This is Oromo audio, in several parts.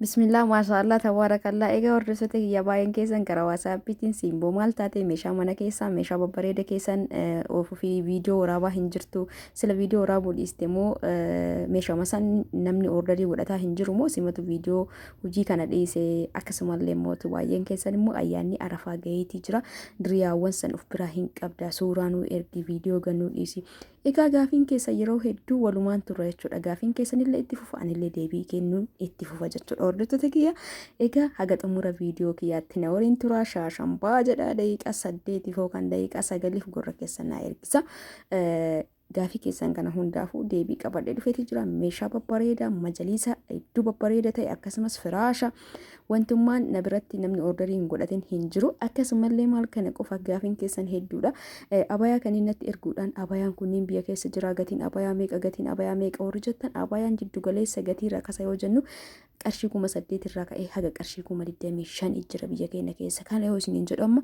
Bismillah maashaallah tabaarakallaa egaa hordoftoota kiyya baay'een keessan gara waasaappiitiin siimboo maal taate meeshaa mana keessaa meeshaa babbareeda keessan ofii viidiyoo waraabaa hin jirtu sila viidiyoo waraabuu dhiiste moo meeshaa masaan namni ordarii godhataa hin jiru moo simatu viidiyoo hojii kana dhiise akkasumallee mootu baay'een keessan immoo ayyaanni arafaa gaheetii jira diriyaawwan san of biraa hin qabda suuraa nuu ergi viidiyoo gannuu dhiisi Egaa gaafiin keessan yeroo hedduu walumaan turra jechuudha. Gaafiin keessanillee itti fufa anillee deebii kennuun itti fufa jechuudha. Hordoftoota kiyya egaa haga xumura viidiyoo kiyyaatti na waliin tura shaashan baa jedha daqiiqaa saddeetiif yookaan daqiiqaa sagaliif gurra keessan naa ergisa. Gaafii keessan kana hundaafuu deebii qabadhee dhufeeti jira. Meeshaa babbareedaa, majaliisa hedduu babbareeda ta'e akkasumas firaasha Wantummaan na biratti namni ordarii hin godhatin hin jiru. Akkasumallee maal kana qofa gaafiin keessan hedduudha. Abayaa kan inni natti erguudhaan abayaan kunniin biyya keessa jira gatiin abayaa meeqa gatiin abayaa meeqa warri jettan abayaan jiddu galeessa gatii rakasa yoo jennu qarshii kuma saddeet irraa ka'ee haga qarshii kuma digdamii shan jira biyya keenya keessa. Kana yoo isiniin jedhu amma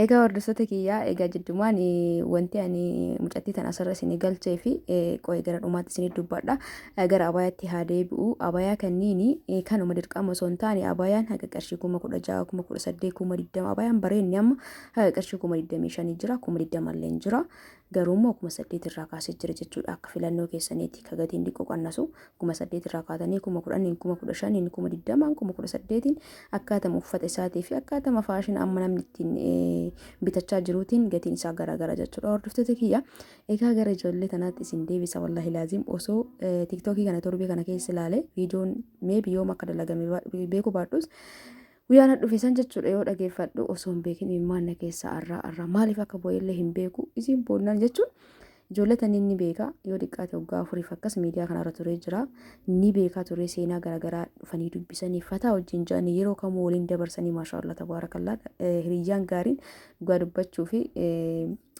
Egaa hordoftoota kiyyaa egaa jiddumaan wanti ani mucattii tan asirra isin galchee fi qo'ee gara dhumaatti isin dubbadha. Gara abayaatti haa deebi'u. Abayaa kanniini kanuma dirqama osoo hin taane abayaan haga qarshii kuma kudha ja'a kuma kudha saddeet kuma digdama abayaan bareenni amma haga qarshii kuma digdamii shanii jira kuma digdama illee jira. Garuu immoo kuma saddeet irraa kaasee jira jechuu dha akka filannoo keessaniiti ka gatiin diqqo qannasu kuma saddeet irraa kaatanii kuma kudhaniin kuma kudha shaniin kuma digdamaan kuma kudha saddeetiin akkaatama uffata isaatii fi akkaatama faashina amma namni ittiin bitachaa jiruutiin gatiin isaa garaagara jechuu dha hordoftoota kiyya egaa gara ijoollee tanaatti isin deebisa wallahi laaziim osoo tiktookii kana torbee kana keessa ilaale viidiyoon mee biyyooma akka dalagame beeku baadhus Guyyaa na dhufe san jechuudha yoo dhageeffadhu osoo hin beekin imimmaan na keessaa arraa arraa maaliif akka boo'ellee hin beeku isiin boonnaan jechuun ijoollee taniin ni beeka yoo xiqqaate waggaa afuriif akkas miidiyaa kanarra turee jira ni beekaa turee seenaa garaagaraa dhufanii dubbisanii fataa wajjin ja'anii yeroo kamuu waliin dabarsanii maashaallah tabaarakallaa hiriyyaan gaariin dhugaa dubbachuu fi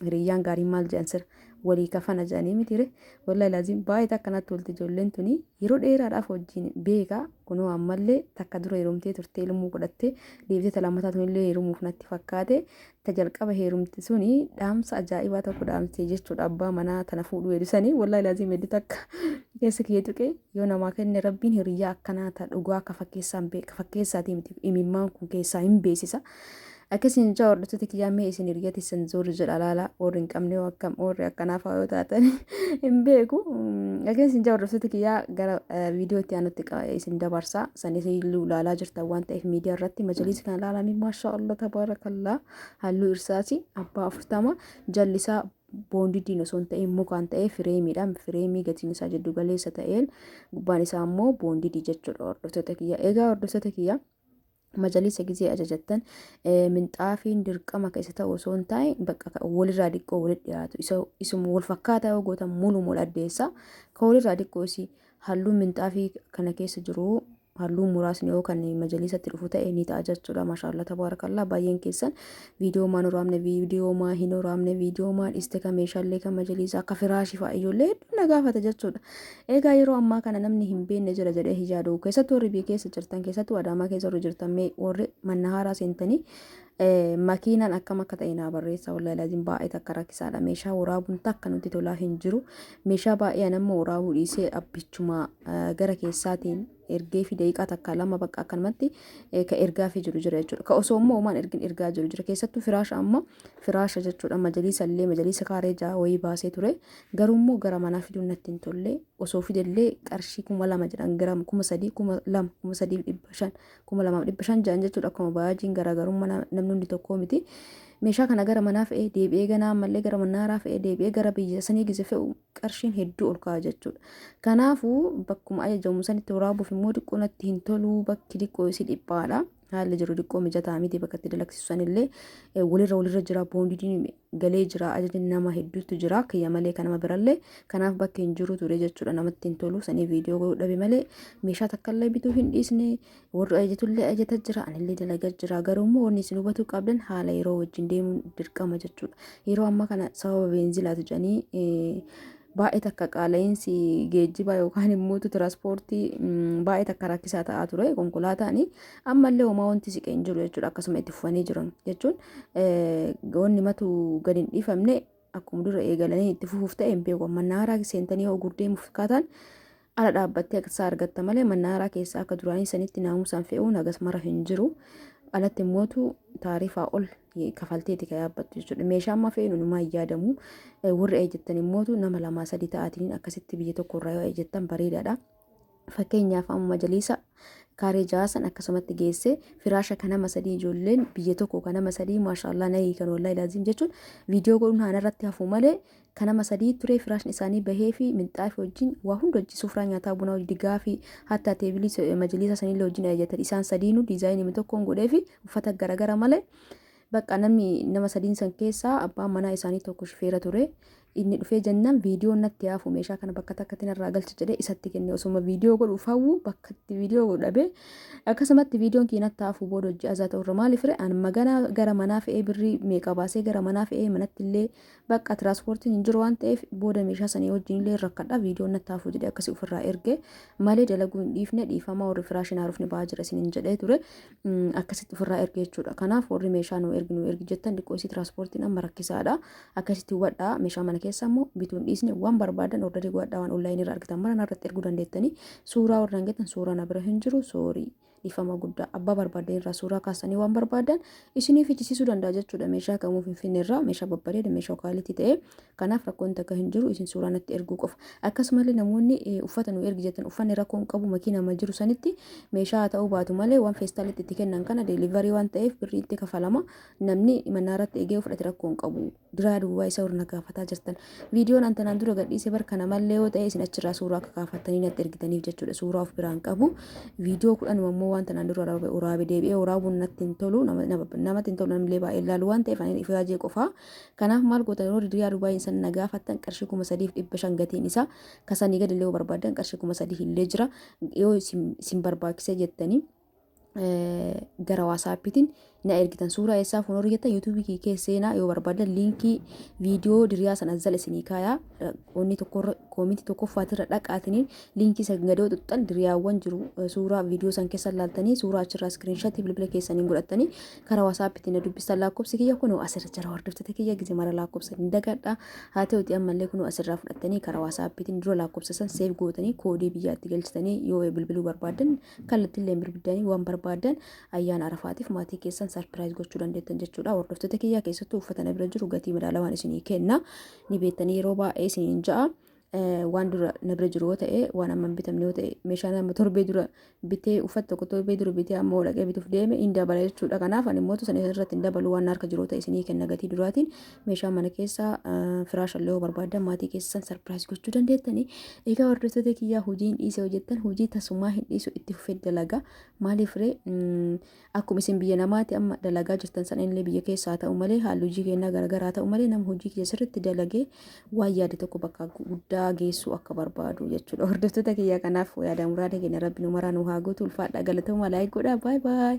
hiriyyaan gaariin maal jedhan sirra walii kafana jedhanii mitire wallahi laziim baay'ee takka natti tolti ijoolleen tuni yeroo dheeraadhaaf wajjin beeka kunoo ammallee takka dura heerumtee turtee ilmoo godhattee deebitee talamataa tunillee heerumuuf natti fakkaate ta jalqaba heerumti suni dhaamsa ajaa'ibaa tokko dhaamtee jechuudha abbaa manaa tana fuudhuu heedusanii wallahi laziim heddu takka keessa kiyya tuqee yoo namaa kenne rabbiin hiriyyaa akkanaa ta dhugaa ka fakkeessaan beeka fakkeessaatii miti imimmaan kun keessaa hin beesisa Akka isin jaa hordoftoota kiyyaa mee isin hiriyyaa teessan zoorri jedha laala warri hin qabne hoo akkam warri akkanaa fa'aa yoo taatan hin beeku. Akka isin jaa hordoftoota kiyyaa gara viidiyoo itti aanutti isin dabarsa. San isin iluu laalaa jirtan waan ta'eef miidiyaa irratti majaliisa kana laalanii maashaa Allah tabaarakallaa halluu irsaasi abbaa afurtama jallisaa boondidiin osoo hin ta'in mukaan ta'ee fireemiidhaan fireemii gatiin isaa jiddu galeessa ta'een gubbaan isaa immoo boondidii jechuudha hordoftoota kiyyaa. Egaa hordoftoota kiyyaa Majaliisa gizee ajajattan minxaafiin dirqama ka isa ta'u osoo hin taa'e bakka ka walirraa diqqoo walit dhiyaatu isa isuma wal fakkaataa yoo gootan muluum wal addeessa ka walirraa diqqoo isi halluun minxaafii kana keessa jiru halluun muraasni yoo kan majaliisatti dhufu ta'e ni ta'a jechuudha maashaallah tabaarakallaa baay'een keessan viidiyoomaa hin waraabne viidiyoomaa hin waraabne viidiyoomaa dhiste ka meeshaalee ka majaliisaa ka firaashii fa'a ijoollee hedduu na gaafata jechuudha. Egaa yeroo ammaa kana namni hin beekne jira jedhee hin yaadu. Keessattuu warri biyya keessa jirtan keessattuu adaamaa keessa warri jirtan mee warri manna haaraa seentanii eh, makiinaan akkam akka ta'e naa barreessa wallahi laaziin baay'ee takka rakkisaadha. Meeshaa waraabuun takka nutti tolaa hin jiru. Meeshaa baay'een ammoo waraabuu dhiisee abbichuma eh, gara keessaatiin ergeefi daqiiqaa takka lama bakka akkanumatti ka ergaafii jiru jira jechuudha. Ka osoo immoo homaan ergin ergaa jiru jira. Keessattuu firaasha amma firaasha jechuudha majaliisa illee majaliisa kaaree ja'a wayii baasee ture. Garuu immoo gara manaa fiduun natti hin tolle. Osoo fidellee qarshii kuma lama jedhan giraama kuma sadii kuma lama kuma sadii dhibba shan kuma lamaaf dhibba shan jedhan jechuudha akkuma baajin garaagarummaa namni hundi tokkoo miti. Meeshaa kana gara manaa fe'ee deebi'ee ganaa ammallee gara manaaraa fe'ee deebi'ee gara biyya sanii gise fe'u qarshiin hedduu ol ka'a jechuudha. Kanaafuu bakkuma ajajamu sanitti waraabuuf immoo diqqoo natti hin toluu bakki diqqoo isii dhiphaadha. Haalli jiru diqqoo mijataa miti bakka itti dalagsiisu sanillee walirra walirra jira boondidiin galee jira ajajni nama hedduutu jira kiyya malee kan nama birallee kanaaf bakki hin jiru ture jechuudha namatti hin tolu sanii viidiyoo godhuu dhabe malee meeshaa takkallee bituu hin dhiisne warri ajajatullee ajata jira anillee dalagaa jira garuu immoo wanni isin hubachuu qabdan haala yeroo wajjin deemuun dirqama jechuudha yeroo amma kana sababa beenzilaatu jedhanii baay'ee takka qaala'insi geejjibaa yookaan immoo tiraanspoortii baay'ee takka rakkisaa ta'aa ture konkolaataani ammallee homaa wanti siqee hin jiru jechuudha akkasuma itti fufanii jiran jechuun wanni matu gadi hin dhiifamne Akkuma dura eegalanii itti fufuuf ta'e hin beeku. Mannaaraa seentanii yoo gurdeemuuf fakkaataan ala dhaabbattee akka isaa argatta malee mannaaraa keessaa akka duraanii sanitti naamusaan fe'uun hagas mara hin jiru. Alatti immootu taarifaa ol kafalteeti kan yaabbattu jechuudha. Meeshaa amma fe'inu numaa hin yaadamu. Warri eejjattan immootu nama lamaa sadii ta'aatiin akkasitti biyya tokko irraa yoo eejjattan bareedaadha. Fakkeenyaaf amma majaliisa kaaree ja'a san akkasumatti geesse firaasha kan nama sadii ijoolleen biyya tokko kan nama sadii maashaallah na hiikan wallahi laaziim jechuun viidiyoo godhuun haana irratti hafuu malee kan nama sadii turee firaashni isaanii bahee fi minxaafi wajjin waa hunda hojii sufraa nyaataa bunaa hojii digaa fi hatta teebilii majaliisa sanillee wajjin ajajatan isaan sadiinuu diizaayinii tokkoon godhee fi uffata garagara malee Bakka namni nama sadiin san keessaa abbaan manaa isaanii tokko shifeera ture. Inni dhufee jennaan viidiyoon natti haafu meeshaa kana bakka takkatti narraa galchi jedhee isatti kenne osuma viidiyoo godhu fawwu bakkatti viidiyoo godhu dhabee akkasumatti viidiyoon kee natti haafu booda hojii azaa ta'urra maaliif ree an maganaa gara manaa fe'ee birrii meeqa baasee gara manaa fe'ee manatti illee Bakka tiraanspoortiin hin jiru waan ta'eef booda meeshaa sanii wajjin illee hin rakkadha viidiyoon natti haafuu jedhee akkasii ofirraa erge malee dalaguu hin dhiifne dhiifamaa warri firaashii hin haarofne ba'aa jira isiniin jedhee ture akkasitti ofirraa erge jechuudha kanaaf warri meeshaa nu ergi nu ergi jettan xiqqoo isii tiraanspoortiin amma rakkisaadha akkasitti hubadhaa meeshaa mana keessa immoo bituun dhiisne waan barbaadan ordarii godhadhaa waan onlaayinii irra argitan mara narratti erguu dandeettanii suuraa warra hin geettan suuraa na bira hin jiru soorii Dhiifama guddaa abbaa barbaaddan irraa suuraa kaasanii waan barbaadan isinii fichisiisuu danda'a jechuudha. Meeshaa kamuu Finfinnee irraa meeshaa babbareeda meeshaa kaalitii ta'e kanaaf rakkoon takka hin jiru isin suuraa natti erguu qofa. Akkasumallee namoonni eh, uffata nu ergi jettan uffanni rakkoon qabu makiinaa ma jiru sanitti meeshaa haa ta'uu baatu malee waan feestaalitti itti kennan kana deelivarii waan ta'eef birrii itti kafalama namni manaa irratti eegee fudhate rakkoon qabu. biraa duwwaa isa ol na gaafataa jirtan. Viidiyoon an tanaan dura gadhiise bar kana mallee yoo ta'e isin achirraa suuraa akka kaafattanii natti ergitaniif jechuudha. Suuraa of biraan qabu. Viidiyoo kudhanuma immoo waan tanaan dura waraabe- waraabe deebi'ee waraabuun natti hin tolu. Nama- nama- Namatti hin tolu namillee baay'ee ilaalu waan ta'eef ani ifaajee qofaa. Kanaaf maal gootan yeroo riyaa Dubaay san na gaafattan qarshii kuma sadiif dhibba shan gatiin isaa kasanii gadillee yoo barbaaddan qarshii kuma sadii illee jira yoo isin isin barbaachisee jettanii gara waasaappiitiin na ergitan suuraa eessaa fuun horigetan yuutuubii kee keessa seenaa yoo barbaadan liinkii viidiyoo diriyaa san azzal isinii kaayaa onni tokko koominti tokkoffaatirra dhaqaatiniin liinkii san gadoo xuxxan diriyaawwan jiru suuraa viidiyoo san keessa laaltanii suuraa achirraa iskiriinshatii bilbila keessaniin godhattanii karaa waasaappiitiin na dubbistan lakkoofsi kiyya kunoo asirra jira hordoftoota kiyya gizee mara lakkoofsa hin dagadha haa ta'uti ammallee kunoo asirraa fudhattanii karaa waasaappiitiin dura lakkoofsa san seef gootanii koodii biyyaatti galchitanii yoo bilbiluu barbaadan Kallattillee birbiddanii waan barbaadan ayyaana arafaatiif maatii keessan sarpiraayiz gochuu dandeettan jechuudha. Hordoftoota kiyyaa keessattuu uffata na bira jiru gatii madaalawaan isinii kenna. Ni beektanii yeroo baay'ee isiniin ja'a. Waan dura na bira jiru yoo ta'e waan amma hin bitamne yoo ta'e meeshaan amma torbee dura bitee uffata tokko torbee dura bitee amma dhaqee bituuf deeme hin dabala jechuudha. Kanaaf ani mootu sana irratti hin dabalu waan harka jiru yoo ta'e isinii kenna gatii duraatiin meeshaa mana keessaa firaasha illee yoo barbaadan maatii keessan sarpiraayis gochuu dandeettani. Egaa hordoftoota kiyyaa hojii hin dhiise hojjettan hojii tasumaa hin dhiisu itti fufee dalagaa maaliif ree akkuma isin biyya namaati amma dalagaa jirtan sana illee biyya keessaa ta'u malee haalli hojii keenyaa garaagaraa ta'u malee nama hojii kiyya sirriitti dalagee waan yaade tokko bakka guddaa geessuu akka barbaadu jechuudha. Hordoftoota kiyyaa kanaaf yaada muraada keenya rabbi nu maraa nu haa guutu ulfaadhaa galatoomaa laayik godhaa baay baay.